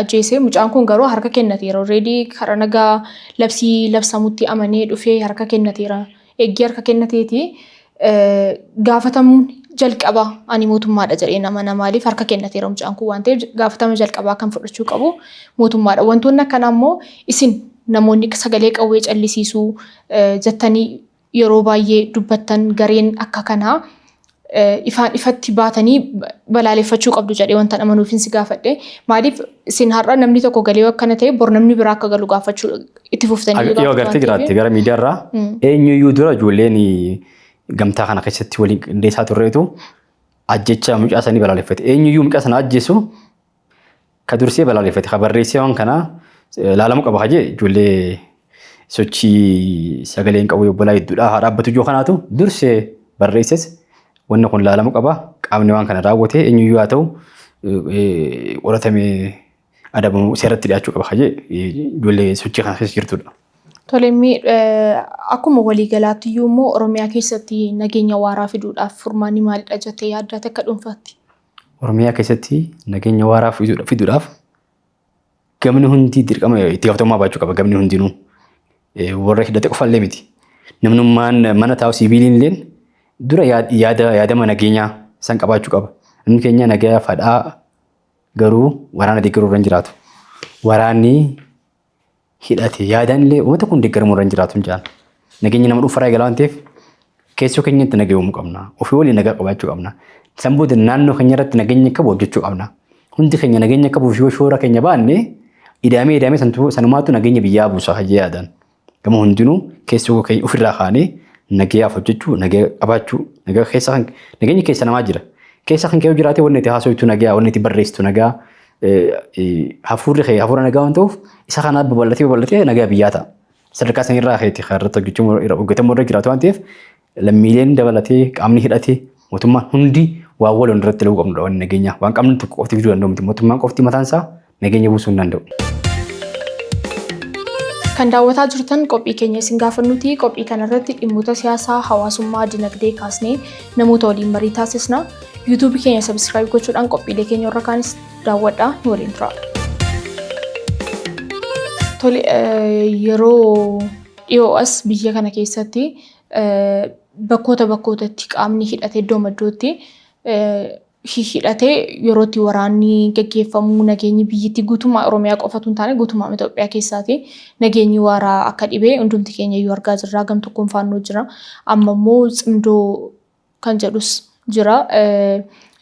ajjeese mucaan kun garuu harka kennateera already karaa nagaa labsii labsamutti amanee dhufee harka kennateera eeggii harka kennateeti gaafatamuun jalqaba ani mootummaadha jedhee nama na maaliif harka kennateera mucaan kun waan ta'eef gaafatama jalqabaa kan fudhachuu qabu mootummaadha wantoonni akkanaa immoo isin namoonni sagalee qawwee callisiisuu jettanii yeroo baay'ee dubbattan gareen akka kanaa ifaan ifatti baatanii balaaleffachuu qabdu jedhee wantan amanuufin si gaafadhe. Maaliif isin har'a namni tokko galee akkana ta'e bor namni biraa akka galu gaafachuu itti fuftanii Ag- yoo gaafatu waan agartee ta'eef. jiraatte gara miidiyaa irraa eenyuyyuu dura ijoolleen gamtaa kana keessatti waliin qindeessaa turreetu ajjecha mucaa sanii balaaleffate eenyuyyuu mucaa sana ajjeesu Ka dursee balaaleffate ka barreessee waan kana laalamuu qaba hajee ijoollee sochii sagaleen qabu obbolaa hedduudha haa dhaabbatu ijoo kanaatu dursee barreesses wanni kun laalamuu qaba qaamni waan kana raawwate eenyuyyuu haa ta'u qoratamee adabamuu seeratti dhiyaachuu qaba hajee ijoollee sochii kana keessa jirtudha. Tolemmii akkuma waliigalaatti iyyuu immoo Oromiyaa keessatti nageenya waaraa fiduudhaaf furmaanni maalidha jettee yaaddaa takka dhuunfaatti? Oromiyaa keessatti nageenya waaraa fiduudhaaf gamni hundi dirqama itti gaafatamummaa baachuu qaba gamni hundinuu. Warra hidhate qofallee miti. Namnummaan mana taa'u siiviiliin illee dura yaada yaadama nageenyaa san qabaachuu qaba. Namni keenya nagaa fadhaa garuu waraana deeggaruu irra hin jiraatu. Waraanni hidhate yaadaan illee uummata kun deeggaramuu irra hin jiraatu hin jedhan. Nageenyi nama dhuunfaa irraa eegala waan ta'eef keessoo keenyatti nagaa uumuu qabna. Ofii waliin nagaa qabaachuu qabna. San booda naannoo keenya irratti nageenya akka bu'u hojjechuu qabna. Hundi keenya nageenya akka bu'uuf yoo shoora keenya baanne idaamee idaamee santu- sanumaatu nageenya biyyaa buusa hajjee yaadan. Gama hundinuu keessoo keenya ofirraa kaanee nagayaaf hojjechuu, nagaa qabaachuu, nagaa keessa kan nageenyi keessa namaa jira. Keessa kan kee yoo jiraate wanni itti haasoftu nagaa, wanni itti barreessitu nagaa, hafuurri kee hafuura nagaa waan ta'uuf isa kanaa babal'atee babal'atee nagaa biyyaa ta'a. Sadarkaa sana irraa keetti kan irratti hojjechuu irra hojjetamuu irra jiraatu waan ta'eef lammiileen dabalatee qaamni hidhatee mootummaan hundi waan waloon irratti laguu qabnudha waan nageenyaa waan qabnu tokko qofti fiduu danda'u miti mootummaan qofti mataan isaa nageenya buusuu hin danda'u. Kan daawwataa jirtan qophii keenya isin gaafannuti. Qophii kanarratti dhimmoota siyaasaa, hawaasummaa, dinagdee kaasnee namoota waliin marii taasisna. YouTube keenya subscribe gochuudhaan qophiilee keenya irra kaanis daawwadhaa nu waliin turaa. Tole yeroo dhiyoo as biyya kana keessatti bakkoota bakkootatti qaamni hidhatee iddoo maddootti hidhatee yerootti waraanni gaggeeffamu nageenyi biyyittii guutummaa Oromiyaa qofatu hin taane guutummaa Itoophiyaa keessaati nageenyi waaraa akka dhibee hundumti keenya iyyuu argaa jirra gam tokkoon faannoo jira amma immoo cimdoo kan jedhus jira.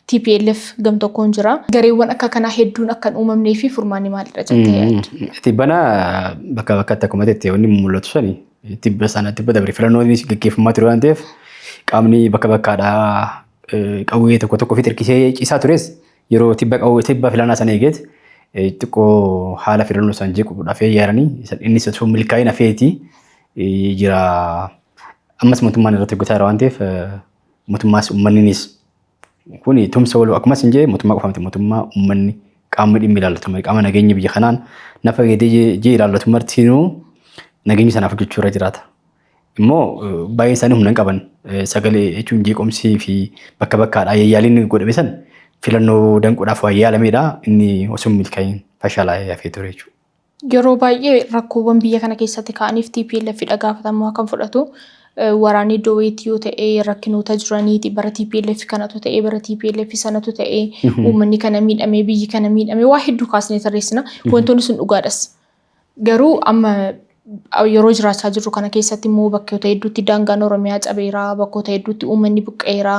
TPLF gam tokkoon jira. Gareewwan akka kanaa hedduun akka hin uumamnee fi furmaanni maalidha jettee yaadda? Tibbana bakka bakkatti akkuma jettee wanni mul'atu sani tibba sana tibba dabre filannoon gaggeeffamaa ture waan ta'eef qaamni bakka bakkaadhaa qawwee tokko tokko ofitti hirkisee ciisaa tures yeroo tibba qawwee tibba filannaa sana eegeet xiqqoo haala filannoo sana jeequudhaaf yaadanii inni sun milkaa'ina feeti jira. ammas mootummaan irratti hojjetaa jira waan ta'eef mootummaas uummanninis kun tumsa waloo akkuma isin jee mootummaa qofa miti mootummaa uummanni qaamni dhimmi ilaallatu mari qaama nageenya biyya kanaan na fayyadee jee ilaallatu martinuu nageenya sanaaf hojjechuu irra jiraata. Immoo baay'een isaanii humna hin qaban sagalee jechuun jeequmsii fi bakka bakkaadhaa yaaliin godhame san filannoo danquudhaaf waan yaalameedha inni osoo milkaa'in fashalaa'ee hafee ture jechuudha. Yeroo baay'ee rakkoowwan biyya kana keessatti ka'aniif TPLF dha gaafatamummaa kan fudhatu. Waraanni iddoo wayiitti yoo ta'e rakkinoota jiraniiti bara TPLF kanatu ta'e bara TPLF sanatu ta'e uummanni kana miidhamee biyyi kana miidhamee waa hedduu kaasnee tarreessina. Wantoonni sun dhugaadhas. Garuu amma yeroo jiraachaa jirru kana keessatti immoo bakkoota hedduutti daangaan Oromiyaa cabeera, bakkoota hedduutti uummanni buqqa'eera,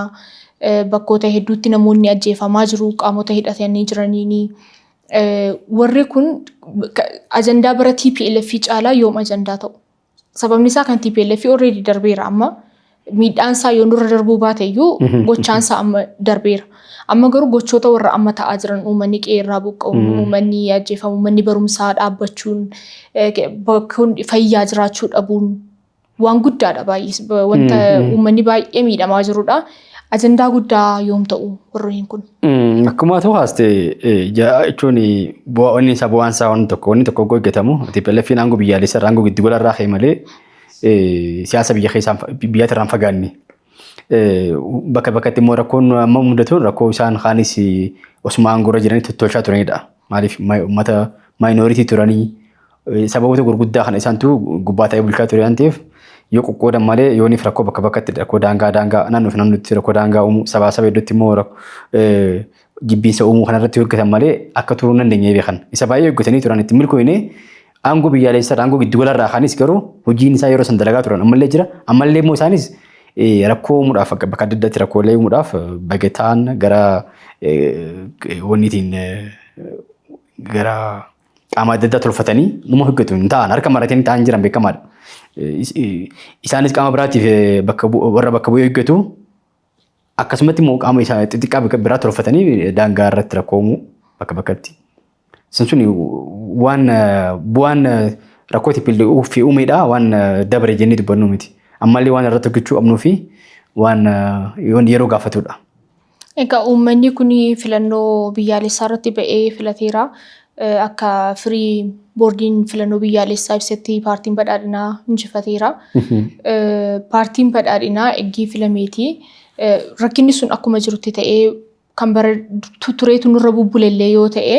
bakkoota hedduutti namoonni ajjeefamaa jiru qaamota hidhatanii jiraniini. Warri kun ajandaa bara TPLF caalaa yoom ajandaa ta'u? Sababni isaa kan TPLF already darbeera amma miidhaan isaa yoo nurra darbuu baate iyyuu gochaan isaa amma darbeera. Amma garuu gochoota warra amma ta'aa jiran uummanni qe'ee irraa buqqa'uun, uummanni ajjeefamu, manni barumsaa dhaabbachuun, bakkoon fayyaa jiraachuu dhabuun, Waan guddaadha baay'ees wanta uummanni baay'ee miidhamaa jirudha. Ajandaa guddaa yoom ta'u warreen kun? Akkuma ta'u haaste jechuun bu'aan isaa bu'aan isaa waan tokko wanni tokko yoo hojjetamu TPLFiin aangoo biyyaalessa irraa aangoo giddu gala irraa ka'e malee siyaasa biyya keessaa biyyaatti irraa hin fagaanne. Bakka bakkatti immoo rakkoon amma mudatu rakkoo isaan kaanis osuma aangoo irra jiranii tottolchaa turanidha. Maaliif uummata maayinooritii turanii Sababoota gurguddaa kana isaantu gubbaa ta'ee bulchaa ture waan ta'eef yoo qoqqoodan malee yooniif rakkoo bakka bakkatti rakkoo daangaa daangaa naannoo fi naannootti rakkoo daangaa uumuu sabaa saba hedduutti immoo jibbiinsa uumuu kanarratti hojjetan malee akka turuu hin dandeenye beekan. Isa baay'ee hojjetanii turan itti milkooyne aangoo biyyaalessaa aangoo giddugalarraa kaanis garuu hojiin isaa yeroo san dalagaa turan ammallee jira ammallee immoo isaanis rakkoo uumuudhaaf bakka adda addaatti rakkoolee uumuudhaaf bagetaan gara wanniitiin gara qaama adda addaa tolfatanii numa hojjetu hin ta'an harka maratanii ta'an jiran beekamaadha. Is- i- Isaanis qaama biraatiif eh, bakka bu- warra bakka bu'ee hojjetu akkasumatti immoo qaama isaa xixiqqaa bika- biraa tolfatanii eh, daangaa irratti rakkoo uumuu bakka bakkatti. Sun sun waan eh, bu'aan eh, rakkoo tippillee fi uumeedha waan eh, dabre jennee dubbannu miti. Ammallee waan irratti hojjechuu qabnuu fi waan eh, yeroo gaafatudha. Egaa uummanni kun filannoo biyyaalessaa irratti ba'ee filateera. Akka firii boordiin filannoo biyyaalessaa ibsetti paartiin badhaadhinaa injifateera. Paartiin badhaadhinaa eggii filameeti. Rakkinni sun akkuma jirutti ta'ee kan bara tureetu nurra bubbulellee yoo ta'e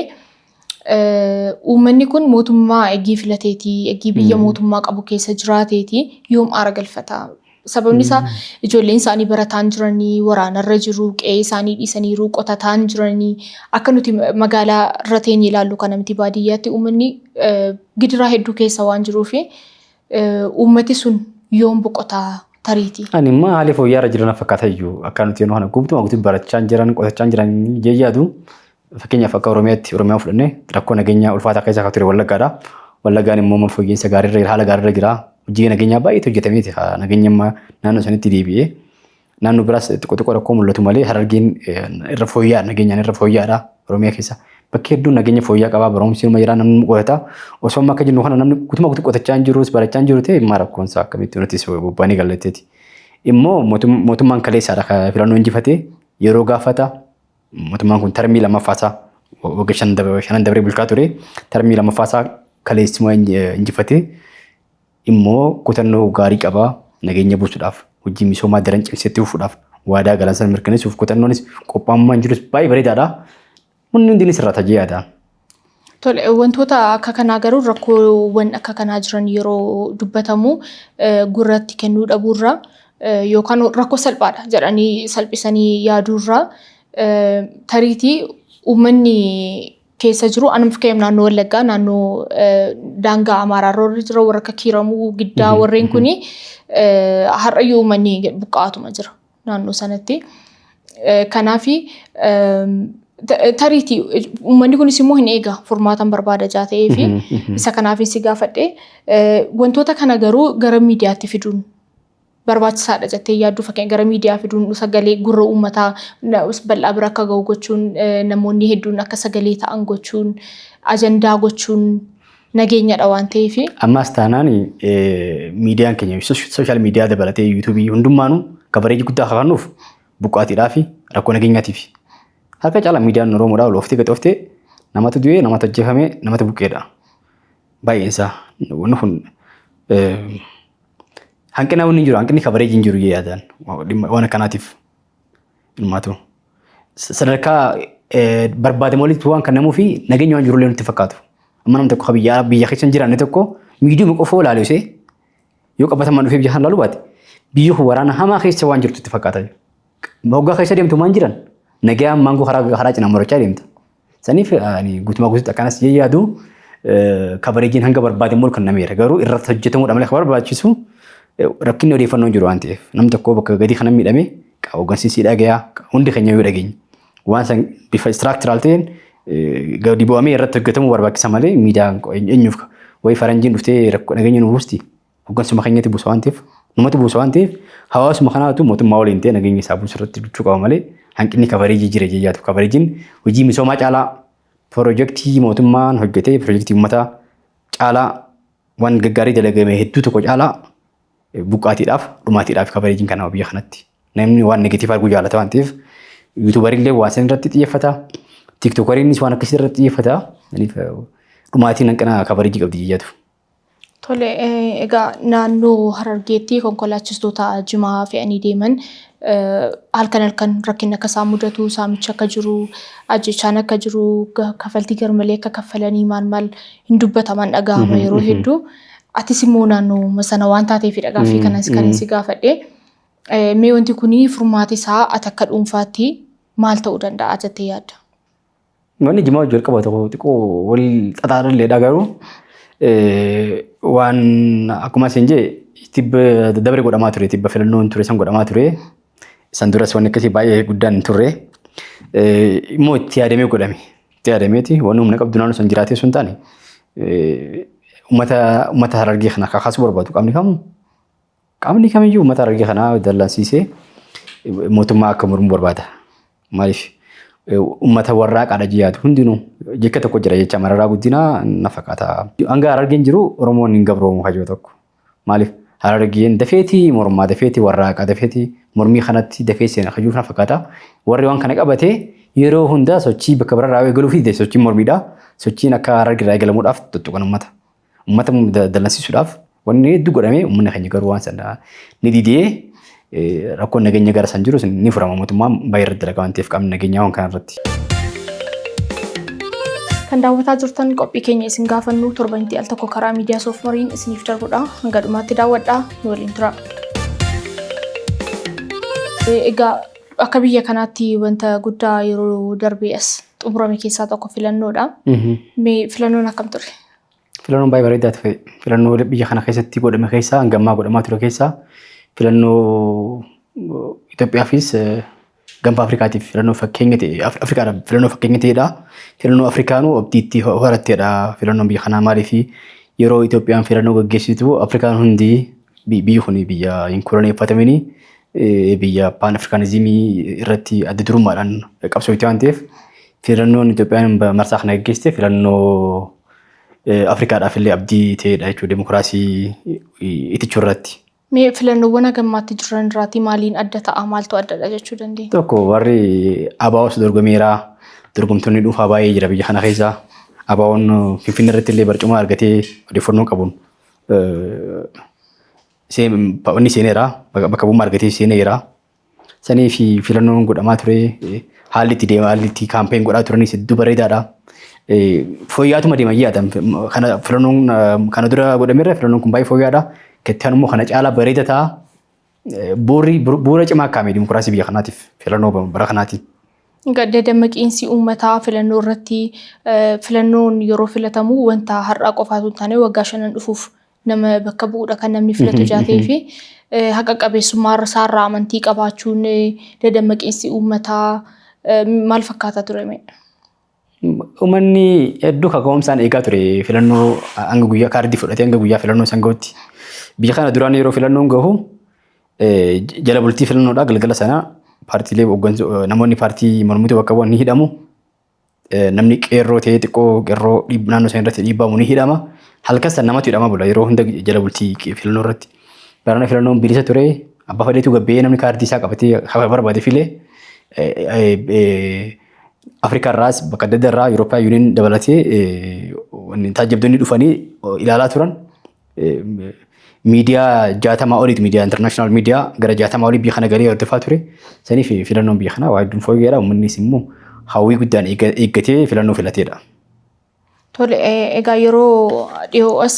Uummanni kun mootummaa eggii filateeti, eggii biyya mootummaa qabu keessa jiraateeti yoom aara galfata. Sababni isaa ijoolleen isaanii barataan jiranii, waraanarra jiru, qe'ee isaanii dhiisaniiru, qotataan jiranii. Akka nuti magaalaa irra teenye ilaallu kana miti baadiyyaatti uummanni gidiraa hedduu keessa waan jiruuf uummati sun yoom boqotaa tariiti. Ani immoo haalli fooyya'aa irra jiran fakkaata iyyuu akka nuti yeroo kana gubtu guutuu barachaa jiran qotachaa jiran jee yaadu Fakkeenyaaf akka Oromiyaatti Oromiyaa fudhannee rakkoo nageenyaa ulfaataa keessa akka ture Wallaggaadha. Wallaggaan immoo amma fooyya'insa gaariirra jira haala gaariirra jira. Hojii nageenyaa baay'eetu hojjetamee jira. Nageenya amma naannoo sanitti deebi'ee naannoo biraas xiqqoo xiqqoo rakkoo mul'atu malee harargeen irra fooyya'aa nageenyaan irra fooyya'aadha Oromiyaa keessa. Bakki hedduun nageenya fooyya'aa qabaa barumsi nama jira namni qotata. Osoo amma akka jennu kana namni guutummaa guutuu qotachaa hin jirus barachaa hin jiru ta'e immaa rakkoon isaa akkamitti nutis bobbaanee gallatteeti. Immoo mootummaan kaleessaadha filannoon injifatee yeroo gaafata Mootummaan kun tarmii lammaffaa isaa wagga shan dabre- shanan dabree bulchaa ture. Tarmii lammaffaa isaa kaleessuma inj- eh, injifate immoo kutannoo gaarii qaba nageenya buusuudhaaf hojii misoomaa daran cimsetti fufuudhaaf waadaa galan sana mirkaneessuuf kutannoonis qophaa'ummaan jirus baay'ee bareedaadha. Wanni hundi ni sirraata jee yaada. Tole, wantoota akka kanaa garuu rakkoowwan akka kanaa jiran yeroo dubbatamu gurratti kennuu dhabuurra yookaan rakkoo salphaadha jedhanii salphisanii yaaduurra tariitii uummanni keessa jiru anuma fakkeenyaaf naannoo Wallaggaa naannoo daangaa Amaaraa irra jira warra akka Kiiramuu, Giddaa warreen kuni har'ayyuu uummanni buqqa'aatuma jira. naannoo sanatti. Kanaaf tariitii uummanni kunis immoo hin eega furmaatan barbaada jaa ta'ee fi isa kanaaf si gaafadhe wantoota kana garuu gara miidiyaatti fiduun barbaachisaadha jettee yaaddu fakkeenya gara miidiyaa fiduun sagalee gurra uummataa bal'aa bira akka ga'u gochuun namoonni hedduun akka sagalee ta'an gochuun ajandaa gochuun nageenyadha waan ta'eefi. Ammaas taanaan miidiyaan keenya sooshaal miidiyaa dabalatee yuutuubii hundummaanuu kabareeji guddaa akka kennuuf buqqaatiidhaa fi rakkoo nageenyaatiif. Harka caalaa miidiyaan Oromoodhaa ol oftee gad oftee namatu du'ee namatu ajjeefamee namatu buqqeedha. Baay'een isaa wanni kun hanqina wanni jiru hanqinni kabareeji hin jiru yaadaan waan akkanaatiif. Ilmaatu. Sadarkaa barbaadamu walitti waan kannamuu fi nageenya waan jirullee nutti fakkaatu. Amma namni tokko biyya biyya keessa hin jiraanne tokko miidiyuma qofoo ilaalu ishee yoo qabatamaan dhufee biyya kan ilaalu baate biyyi kun waraana hamaa keessa waan jirtu itti fakkaata. Hoggaa keessa deemtu maan jiran nagayaan maangoo karaa cinaan marachaa deemta. Saniif ani guutumaa guutuutti akkanas jee yaadu kabareejiin hanga barbaade immoo kennameera. Garuu irratti hojjetamuudha malee kan barbaachisu rakkinni odeeffannoo hin jiru waan ta'eef. Namni tokko bakka gadii kana miidhame hooggansiisii dhagayaa hundi keenya yoo dhageenye. Waan san bifa istiraaktiral ta'een gadi bu'amee irratti hojjetamuu barbaachisa malee miidiyaan eenyuuf wayi faranjiin dhuftee rakkoo nageenya nu buusti. hoggansuma keenyatti buusa waan ta'eef numatu buusa waan ta'eef hawaasuma kanaatu mootummaa waliin ta'e nageenya isaa buusu irratti duchuu qaba malee hanqinni kabareejii jira jeyyaatu kabareejiin hojii misoomaa caalaa pirojektii mootummaan hojjetee pirojektii uummataa caalaa waan gaggaarii dalagame hedduu tokko caalaa buqqaatiidhaaf dhumaatiidhaaf kabareejiin kanaaf biyya kanatti namni waan negatiivaa arguu jaalata waan ta'eef yuutuubarillee waan san irratti xiyyeeffata tiiktokariinis waan akkasii irratti xiyyeeffata dhumaatiin hanqina kabareejii qabdi jeyyaatu. Tole, eh, egaa naannoo Harargeetti konkolaachistoota jimaa fe'anii deeman eh, halkan halkan rakkinni akka isaan mudatu, saamichi akka jiru, ajjechaan akka jiru, ga- kafaltii garmalee akka kaffalanii maal maal hin dubbataman dhaga'ama yeroo hedduu. Atis immoo naannoo sana waan taateefidha gaaffii kanas kan inni si gaafadhe. Eh, Mee wanti kun furmaati isaa ati akka dhuunfaatti maal ta'uu danda'a jettee yaadda? Manni jimaa hojii jalqaba tokko xiqqoo wal xaxaadhalleedha garuu waan akkuma isin jee tibba dabre godhamaa ture tibba filannoon ture san godhamaa ture san duras wanni akkasii baay'ee guddaan hin turre immoo itti yaadamee godhame itti yaadameeti waan humna qabdu naannoo san jiraatee sun taane uummata uummata harargee kana kakaasuu barbaadu qaamni kamu Qaamni kamiyyuu uummata Harargee kanaa dallansiisee mootummaa akka mormu barbaada. Maaliif uummata warraaqaadha jiyaatu hundinuu jecha tokko jira jecha mararaa guddinaa na fakkaata. Hanga Harargeen jiru Oromoon hin gabroomu kajoo tokko. Maaliif Harargeen dafeetii mormaa dafeetii warraaqaa dafeetii mormii kanatti dafee seena kajuu na fakkaata. Warri waan kana qabatee yeroo hundaa sochii bakka biraarraa eegaluu fi sochiin mormiidha. Sochiin akka Harargeerraa eegalamuudhaaf tuttuqan uummata. Uummata dallansiisuudhaaf wanni hedduu godhamee uummanni keenya garuu waan sana ni didee rakkoon nageenya gara san jirus ni furama mootummaan baay'ee irratti dalagaa waan ta'eef qaamni nageenyaa waan kana irratti. Kan daawwataa jirtan qophii keenya isin gaafannu torbanitti al tokko karaa miidiyaa soofmariin isiniif darbudha. Hanga dhumaatti daawwadhaa nu waliin tura. Egaa akka biyya kanaatti wanta guddaa yeroo darbee as xumurame keessaa tokko filannoodha. Mee filannoon akkam ture? Filannoon baay'ee bareedaa ture. Filannoo biyya kana keessatti godhame keessaa hanga ammaa godhamaa ture keessaa filannoo Itoophiyaafis gaanfa Afrikaatiif filannoo fakkeenya ta'e Afrikaadhaaf filannoo fakkeenya ta'edha. Filannoo Afrikaanuu abdiitti horatteedha filannoon biyya kanaa maaliif yeroo Itoophiyaan filannoo gaggeessitu Afrikaan hundi biyyi kun biyya hin koloneeffatamini biyya paan Afrikaanizimii irratti adda durummaadhaan qabsoo itti waan ta'eef Filannoon Itoophiyaan marsaa kana gaggeessite filannoo Afrikaadhaaf illee abdii ta'edha jechuudha dimokiraasii itichuu irratti. Mee filannoowwan hagammaatti jiran irraatii maaliin adda ta'a? Maaltu addadha jechuu dandeenya? Tokko warri ABOs dorgomeera. Dorgomtoonni dhuunfaa baay'ee jira biyya kana keessa. ABOn Finfinnee irratti illee barcuma argatee odeeffannoo qabuun inni seeneera. Bakka bu'ummaa argatee seeneera. Sanii fi filannoon godhamaa ture haalli itti deema haalli itti kaampeen godhaa turanis hedduu bareedaadha. Fooyyaatuma deema yaada kana filannoon kana dura godhamerra filannoon kun baay'ee fooyyaadha. Kettaan immoo kana caalaa bareeda ta'a. Bu'uurri bu'uura cimaa akkaamii dimokiraasii biyya kanaatiif filannoo bara kanaati. Gadda dammaqiinsi uummataa filannoo irratti filannoon yeroo filatamu wanta har'aa qofaatu hin taane waggaa shanan dhufuuf nama bakka bu'uudha kan namni filatu jaatee fi haqa qabeessummaa isaarraa amantii qabaachuun dadammaqiinsi uummataa maal fakkaataa ture mee? Uummanni hedduu kaka'umsaan eegaa ture filannoo hanga guyyaa kaardii fudhatee hanga guyyaa filannoo san gahutti. Biyya kana duraan yeroo filannoon gahu jala bultii filannoodhaa galgala sana paartiilee namoonni paartii mormituu bakka bu'an ni hidhamu. Namni qeerroo ta'ee xiqqoo qeerroo naannoo sana irratti dhiibbamu ni hidhama. Halkan sana namatu hidhama bula yeroo hunda jala bultii filannoo irratti. Barana filannoon bilisa ture abbaa fedheetu gabbee namni kaardii isaa qabatee hafa barbaade filee Afrikaa irraas bakka adda addaa irraa Yurooppaa Yuuniin dabalatee taajjabdoonni dhufanii ilaalaa turan. miidiyaa jaatamaa oliiti miidiyaa intarnaashinaal miidiyaa gara jaatamaa olii biyya kana galee hordofaa ture. Saniif filannoon biyya kanaa waa hedduun fooyyeedha. Uummannis immoo hawwii guddaan eeggatee filannoo filateedha. Tole egaa yeroo dhiyoo as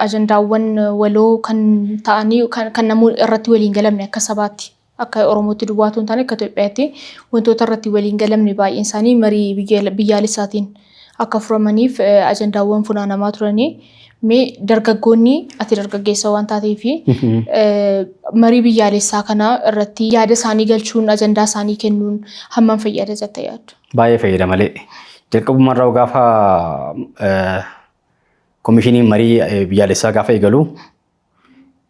ajandaawwan waloo kan ta'anii kan namuu irratti waliin galamne akka sabaatti Akka Oromootti duwwaa otoo hin taane akka Itoophiyaatti wantoota irratti walii hin galamne baay'een isaanii marii biyyaalessaatiin akka furamaniif ajandaawwan funaanamaa turani. Mee dargaggoonni ati dargaggeessa waan taateef marii biyyaalessaa kana irratti yaada isaanii galchuun ajandaa isaanii kennuun hammam fayyada jettee yaaddu? Baay'ee fayyada malee. Jalqabuma irraa gaafa komishiniin marii biyyaalessaa gaafa eegalu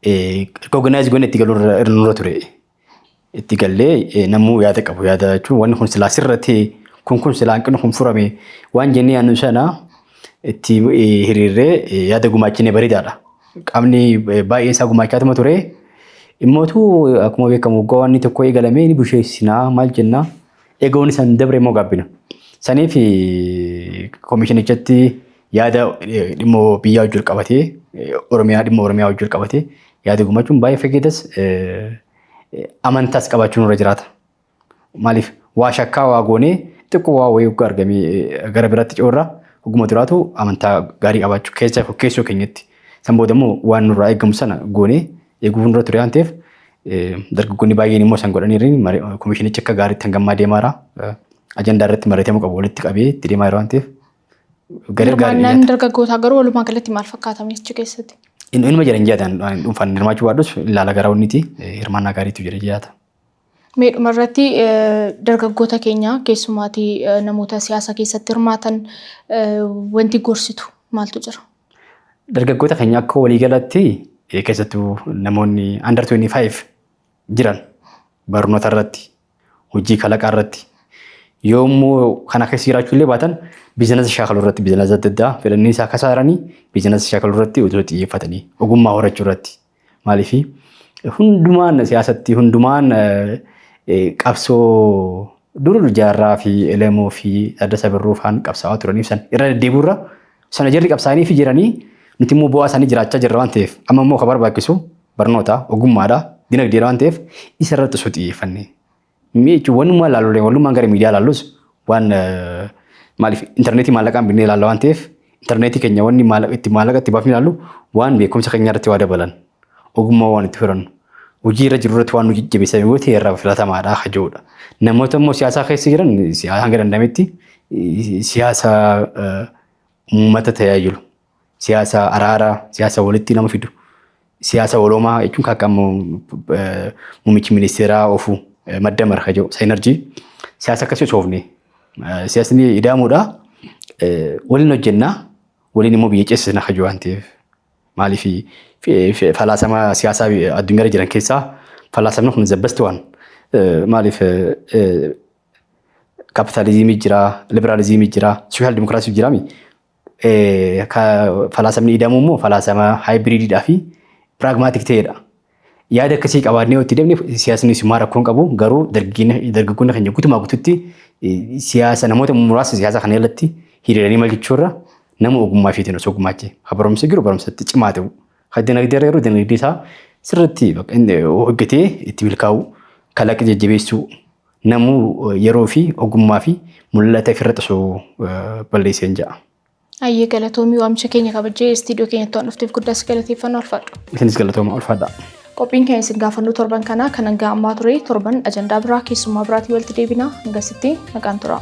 Recognize goone itti galuu irra irra nurra ture. Itti gallee eh, namuu yaada qabu yaada jechuun wanni kun silaa sirra ta'e kun kun silaa hanqinni kun furame waan jennee yaadnu sana itti eh, hiriirree eh, yaada gumaachine bareedaadha. Qaamni eh, baay'een isaa gumaachaatuma ture. Immootu akkuma beekamu waggaa waan inni tokko eegalamee ni busheessinaa maal jennaa eegoon isaan dabre immoo gaabbina. Saniif eh, komishinichatti yaada dhimma biyyaa wajjin qabatee Oromiyaa dhimma Oromiyaa wajjin qabatee yaada gumachuun baay'ee fageetas amantaas qabaachuun irra jiraata. Maaliif waa shakkaa waa goonee xiqqoo waa wayii hoggaa argamee gara biraatti coorraa hogguma duraatu amantaa gaarii qabaachuu keessa keessoo keenyatti. San booda immoo waan nurraa eegamu sana goonee eeguu nurra ture waan ta'eef dargaggoonni baay'een immoo san godhaniiru komishinichi akka gaariitti hangam deemaara ajandaa irratti mari'atamuu qabu walitti qabee itti deemaa jira waan ta'eef Hirmaannaan dargaggootaa garuu walumaa galatti maal fakkaata ministicha keessatti? Inuma jira hin jaataan dhuunfaan hirmaachuu baadhus ilaala gara onniti hirmaannaa gaariitu jira jaata. Mee dhumarratti dargaggoota keenya keessumaati namoota siyaasa keessatti hirmaatan wanti gorsitu maaltu jira? Dargaggoota keenya akka waliigalatti keessattuu namoonni under 25 jiran barnoota irratti hojii kalaqaa irratti yoo immoo kana keessa jiraachuu illee baatan biizinasa shaakaluu irratti biizinasa adda addaa fedhanii isaa kasaaranii biizinasa shaakaluu irratti otoo xiyyeeffatanii ogummaa horachuu irratti maaliif hundumaan siyaasatti hundumaan qabsoo dur jaarraa fi elemoo fi adda sabirruu faan qabsaa'aa turaniif san irra deddeebiirra Sana jarri qabsaa'anii fi jiranii nuti immoo bu'aa isaanii jiraachaa jirra waan ta'eef amma immoo kan barbaachisu barnoota ogummaadha dinagdeedha waan ta'eef isa irratti osoo xiyyeeffannee. Mee jechuun wanumaa ilaallu walumaan gara miidiyaa ilaallus waan eh, maaliif intarneetii maallaqaan binnee ilaalla waan ta'eef intarneetii keenya wanni maallaqa itti maallaqa itti baafnee ilaallu waan beekumsa keenya irratti waa dabalan Ogummaa waan itti horannu. Hojii irra jiru irratti waan nu jajjabeessan yoo ta'e irraa filatamaadha kan jedhudha. Namoota immoo siyaasaa keessa jiran siyaasa hanga danda'ametti siyaasa uummata tajaajilu. Siyaasa araaraa, siyaasa walitti nama fidu. Siyaasa waloomaa jechuun kan akka muummichi ministeeraa ofu madda mara kan jedhu saayinerjii. Siyaasa akkasii osoo ofne siyaasni ida'amuudha. Waliin hojjennaa waliin immoo biyya ceessisna kan jedhu waan ta'eef. Maaliif falaasama siyaasaa addunyaarra jiran keessaa falaasamni kun the best one. Maaliif kapitaalizimii jira, liberaalizimii jira, sooshaal dimokiraasii jira mi? Falaasamni ida'amu immoo falaasama haayibiriididhaa fi piraagmaatik ta'edha. Yaada akkasii qabaannee yoo itti deemne siyaasni simaa rakkoo hin qabu garuu dargaggoonni keenya guutumaa guututti siyaasa namoota muraasa siyaasa kana irratti hiriiranii maal jechuurra nama ogummaa isheetiin osoo gumaache ha barumsa jiru barumsatti cimaa ta'u ha dinagdee irra yeroo dinagdee isaa sirriitti hojjetee itti milkaa'u kalaqa jajjabeessuu namuu yeroo fi ogummaa fi mul'ata ofirratti osoo balleesseen ja'a. Ayyee galatoomii waamicha keenya kabajjee istiidiyoo keenyatti waan dhufteef guddaa si galateeffanna ulfaadhu. Isinis galatooma ulfaadha. Qophiin keenya isin gaafannoo torban kanaa kan hanga ammaa ture torban ajandaa biraa keessummaa biraatiin walitti deebina hangasitti nagaan turaa.